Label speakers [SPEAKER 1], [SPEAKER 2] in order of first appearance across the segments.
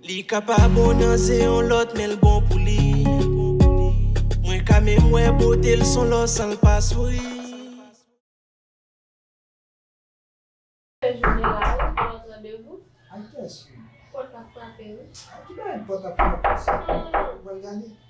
[SPEAKER 1] Li ka pa bon nan zen yon lòt menl bon pou li Mwen ka menm wè botel son lò sanl pa souri. Kè jene la wi pou lòt randevou. Ay kè soum. Pòt ap frape wi. Ay ki bagay pòt ap frape sa. Mwen
[SPEAKER 2] gade.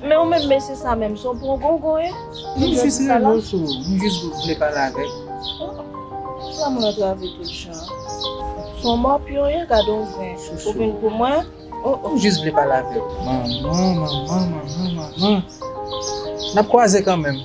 [SPEAKER 3] Men ou menm mesye
[SPEAKER 2] sa menm son pongongon ye? Li gen jis sa la?
[SPEAKER 3] M jis vle pale avèk.
[SPEAKER 2] Sa moun antrave tout jan. Son mòpyon ye gadon gren. Ou vin pou mwen? Oh oh. M jis vle
[SPEAKER 3] pale avèk. Manman manman manman manman. Nap kwaze kanmenm.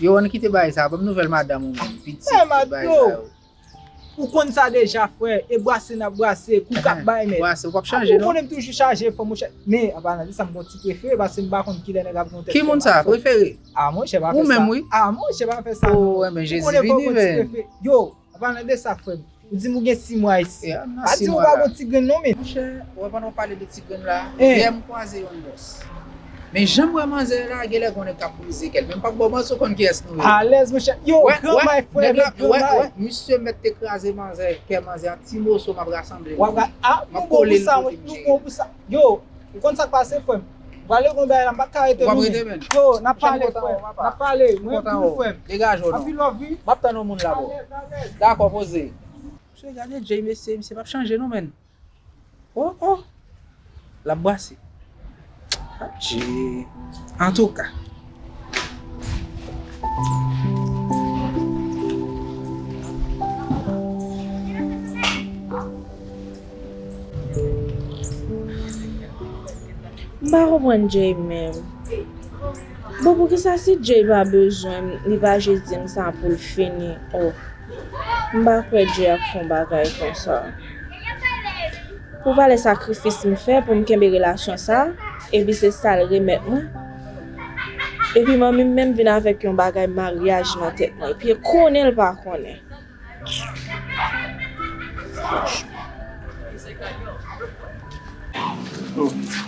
[SPEAKER 4] Yoann kite bagay
[SPEAKER 3] sa banm nouvel madanm ou menm pitit tout bagay sa yo.
[SPEAKER 4] Matlo ou konn sa deja frè e brase nap brase kou kap bay mèt. Brase ou pap chanje non. Apre ou konnen
[SPEAKER 3] m toujou chaje fò
[SPEAKER 4] monchè men anpalan de sa m gon ti prefere pase m pa konn kilè nèg ap gon tèt fè mal. Ki moun sa prefere?
[SPEAKER 3] Ah monchè pa fè sa. Ou menm
[SPEAKER 4] wi. Ah
[SPEAKER 3] monchè
[SPEAKER 4] pa fè
[SPEAKER 3] sa
[SPEAKER 4] non. Ou
[SPEAKER 3] menm
[SPEAKER 4] Jezi
[SPEAKER 3] vini
[SPEAKER 4] men.
[SPEAKER 3] Yo An
[SPEAKER 4] palan de sa frem. Ou dim ou gen 6 mwa isi. Pa dim ou pa gon
[SPEAKER 3] ti grenn
[SPEAKER 4] non
[SPEAKER 3] men. Monchè
[SPEAKER 4] wè pandan ou pale
[SPEAKER 3] de ti grenn la yè m kwaze yon
[SPEAKER 4] bòs
[SPEAKER 3] men janm wè manzè la genlè gon nèg kap brize kèl men m pap baw manti ou konn kiyès nou ye Alèz monchè yow
[SPEAKER 4] gran bay frèm yo gran bay. Wè misye
[SPEAKER 3] mèt te kraze manzè kè manzè an ti moso map rasanble l map kole
[SPEAKER 4] l kote
[SPEAKER 3] m
[SPEAKER 4] jeye l.
[SPEAKER 3] Yo,
[SPEAKER 4] ou konn sak pase frèm. Vale gon bagay la mpa ka rete nou menn. Yo,
[SPEAKER 3] nap pale frèm,
[SPEAKER 4] nap pale,
[SPEAKER 3] mwen
[SPEAKER 4] renmn tou
[SPEAKER 3] frèm. Anpil
[SPEAKER 4] love wi.
[SPEAKER 3] Map
[SPEAKER 4] tann yon
[SPEAKER 3] moun
[SPEAKER 4] la bro.
[SPEAKER 3] Dakò poze. Mesye gade Jay mesye, misye pap chanje non menn. Oh oh. Lap brase. Adjee. Antouka.
[SPEAKER 2] M pa konprann Jay menm. Bon poukisa si Jay pa bezwen m li pa jis di m sa pou l fini oh. M pa kwè Jay ap fè yon bagay konsa. Pou valè sakrifis m fè pou m kenbe relasyon sa epi se sa l remèt mwen. Epi manmim menm vin avèk yon bagay maryaj nan tèt mwen epi konnenl pa konnen.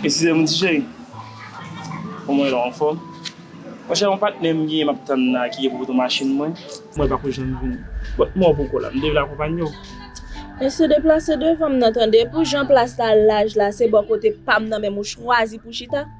[SPEAKER 5] Esizem ti cheri Koman ou ye la ou anfòm Monchè yon patnè m genyen map tann la ki gen pou pote machin mwen mwen pako janm vini Bon kouman ou poko la m te vle akonpanye w Mesye
[SPEAKER 2] deplase devanm nan tande pou jan plas la laj la se bò kote pam nan menm ou chwazi pou chita.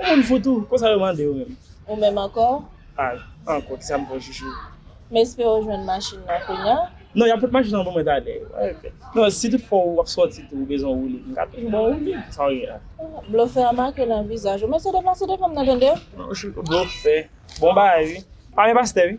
[SPEAKER 5] Ou moun fou tou, konsa yo mande ou menm. Ou menm ankò?
[SPEAKER 2] Al, ankò,
[SPEAKER 5] kisa m fè w chouchou? M espere w
[SPEAKER 2] jwenn machin nan kounya. Non, y ap pot machin nan
[SPEAKER 5] ban mwen talè. Non, si tout fwa ou ap sòti tou ou bezwen yon woulib, m ka toujou ba w woulib, sa w gen la. Blofè a make
[SPEAKER 2] nan vizaj ou. Mesye deplase devan m nan tande. Blofè.
[SPEAKER 5] Bon bagay wi. Pa men pastè wi.